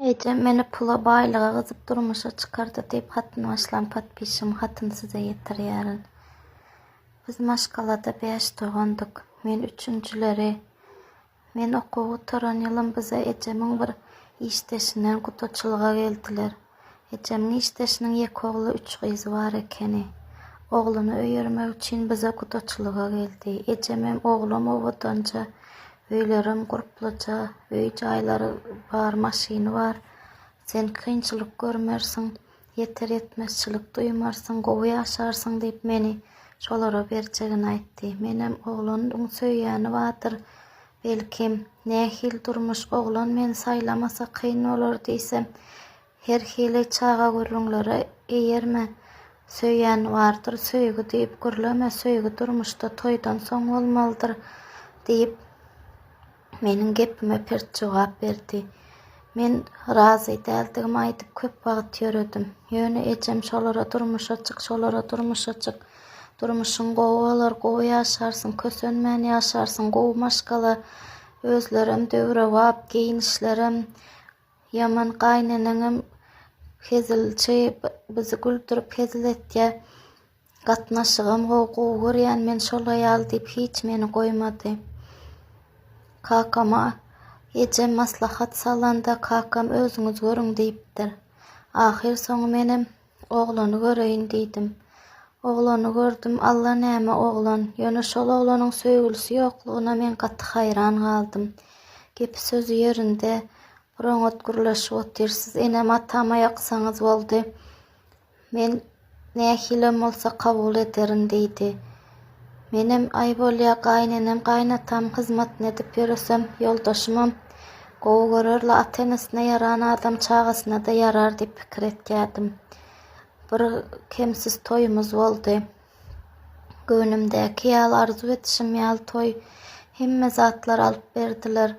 Ejem meni pula baýlyga gyzyp durmuşa çykardy diýip hatyny başlan podpişim hatyny size ýetirýärin. Biz maşgalada bäş dogandyk. Men üçünjileri. Men okuw gutaran ýylym bize ejemiň bir işdeşinden gudaçylyga geldiler. Ejemiň işdeşiniň ýeke ogly üç gyzy bar ekeni. Ogluny öýermek üçin bize gudaçylyga geldi. Ejemem oglam owadanja Öýlerem gurplaça, öý-jaýlary bar, maşyny bar. Sen kynçylyk görmersiň, ýeter-ýetmezçilik duýmarsyň, gowy ýaşarsyň diýip meni şolara berjegini aýtdy. Menem, Oglanyň söýýäni bardyr, belki, nähili durmuş, oglan meni saýlamasa kyn bolar diýsem, Her hili çaga gürrüňlere eýerme, Söýýän bardyr, söýgi diýip gürleme, Söýgi durmuşda toýdan soň bolmalydyr, diýip, meniň gepime pert jogap berdi. Men razy däldigimi aýdyp köp wagt ýöredim. Ýöne ejem şolara durmuşa çyk, şolara durmuşa çyk. Durmuşyň gowy bolar, gowy ýaşarsyň, kösenmän ýaşarsyň, gowy maşgala, özlerem döwrebap, geýnişlerem Ýaman gaýyneneňem hezilçi, bizi güldürip hezil etýä. Gatnaşygam gowy, gowy görýän men şol aýaly diýip hiç meni goýmady. Kakama ejem maslahat salanda kakam özüňiz görüň diýipdir. Ahyr soňy menem Oglany göreýin diýdim. Oglany gördüm, alla näme oglan, ýöne şol oglanyň söýgülisi ýoklugyna men gaty haýran galdym. Gepi-sözi ýerinde, bir oňat gürleşip otyrsyz. Enem-atama ýaksaňyz boldy. Men nähilem bolsa kabul ederin diýdi. Menem aý bolýa gaýynenem gaýynatam hyzmatyny edip ýöresem ýoldaşymam gowy görer la ata enesine ýaran adam çagasynada ýarar diýip pikir etýädim. Bir kemsiz toýumyz boldy. Göwnümdäki ýaly arzuw edişim ýaly toý hemme zatlar alyp berdiler.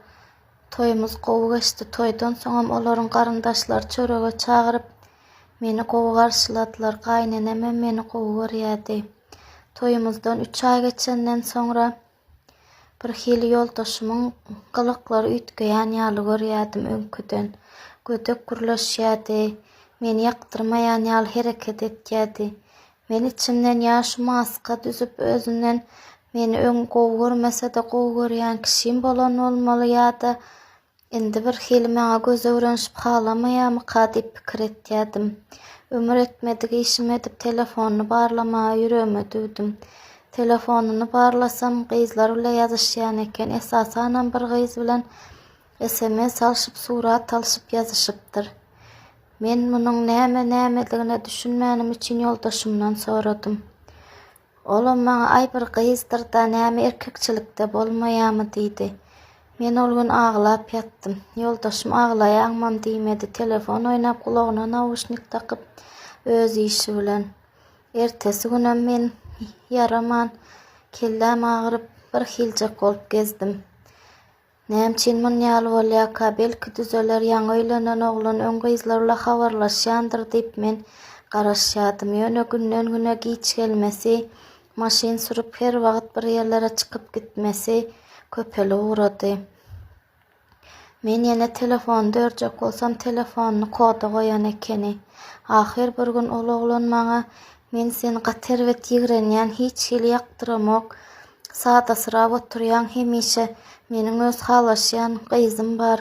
Toýumyz gowy geçdi toýdan soňam olaryň garyndaşlary çörege çagyryp meni gowy garşyladylar gaýynenemem meni gowy görýädi. Toýumyzdan üç aý geçenden soňra birhili ýoldaşymyň gylyklary üýtgeýän ýaly görýärdim öňküden. Gödek gürleşýärdi, meni ýakdyrmaýan ýaly hereket etýärdi. Men içimden ýa şu maska düzüp özünden meni öň gowy görmese-de gowy görýän kişim bolan bolmaly ýa-da Indi birhili maňa göz öwrenişip halamaýarmyka diýip pikir etýärdim. Ömür etmedik işimi edip telefonyny barlamaga ýüregime düwdüm. Telefonyny barlasam, gyzlar bile ýazyşýan eken, esasanam bir gyz bilen sms alşyp, surat alşyp ýazyşypdyr. Men munuň näme-nämedigine düşünmänim üçin ýoldaşymdan soradym. Olam maňa Aý bir gyzdyr-da näme erkekçilikde bolmaýamy diýdi. Men ol gün aglap ýatdym. Ýoldaşym aglaýaňmam diýmedi, telefon oýnap gulagyna nauşnik dakyp öz işi bilen. Ertesi günem men ýaraman, kelläm agyryp bir hiljek bolup gezdim. Näme üçin muny ýaly bolýarka? Belki düzeler, ýaňy öýlenen oglan öň gyzlar bilen habarlaşýandyr diýip men garaşýardym. Ýöne günden-güne giç gelmesi, maşyn sürüp her wagt bir ýerlere çykyp gitmesi köpelip ugrady. Men ýene telefony dörjek bolsam telefonyny koda goýan ekeni. Ahyr bir gün ol oglan maňa Men seni gaty erbet ýigrenýän, hiç hili ýakdyramok, Sadasyrap oturýaň hemişe. Meniň öz halaşýan gyzym bar.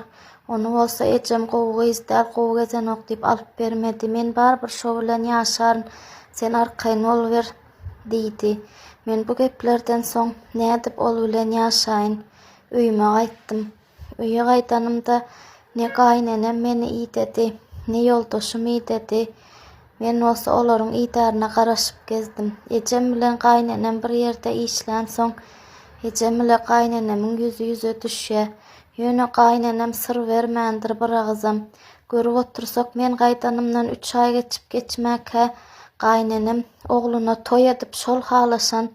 Ony bolsa ejem gowy gyz däl, gowy gezenok diýip alyp bermedi. Men barybir şo bilen ýaşaryn. Sen arkaýyn boluber, diýdi. Men bu geplerden soň nädip ol bilen ýaşaýyn? Öýüme gaýtdym. Öýe gaýdanymda ne gaýynenem meni idedi, ne ýoldaşym idedi. Men bolsa olaryň idaryna garaşyp gezdim. Ejem bilen gaýynenem bir ýerde işlänsoň, ejem ile gaýynenemin ýüzi ýüze düşýär. Ýöne gaýynenem syr bermändir biragyzam. Görüp otursak, men gaýdanymdan üç aý geçip-geçmäkä, gaýynenem ogluna toý edip, şol halaşan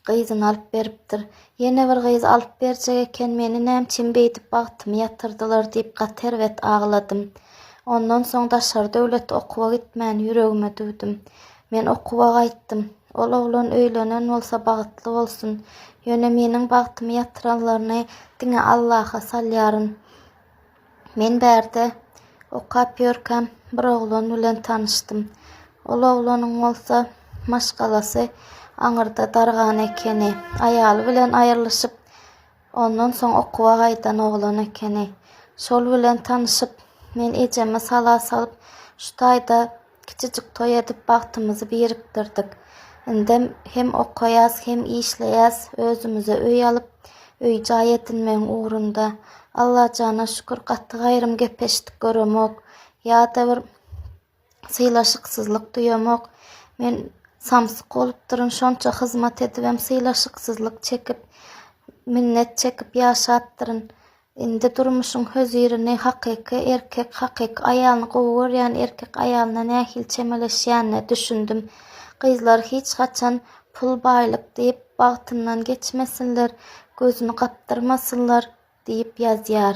Gyzyny alyp beripdir. Ýene bir gyz alyp berjek eken, meni nämçin beýdip bagtymy ýatyrdylar diýip gaty erbet agladym. Ondan soň daşary döwlet okuwa gitmän ýüregime düwdüm. Men okuwa gaýtdym. Ol oglan öýlenen bolsa bagtly bolsun. Ýöne meniň bagtymy ýatyranlaryny diňe Allaha salýaryn. Men bärde okap ýörkäm bir oglan bilen tanyşdym. Ol oglanyň bolsa maşgalasy aňyrda dargan ekeni. Aýaly bilen aýrylyşyp, ondan soň okuwa gaýdan oglan ekeni. Şol bilen tanyşyp, men ejeme sala salyp, şu taýda Kiçijik toý edip bagtymyzy birikdirdik. Indem hem okaýas, hem işleýäs, özümize öý alyp, öý-jaý edinmegiň ugrunda. Allajana şükür, gaty gaýrym gep-eşitdik göremok. Ýa-da bir sylaşyksyzlyk duýamok. Men samsyk bolupdyryn, şonça hyzmat edibem sylaşyksyzlyk çekip, minnet çekip ýaşapdyryn. Indi durmuşyň hözirini hakyky erkek, hakyky aýalyny gowy görýän erkek aýalyna nähili çemeleşýänine düşündim. Gyzlar hiç haçan pul baýlyk diýip bagtyndan geçmesinler, gözüni gapdyrmasynlar diýip ýazýar.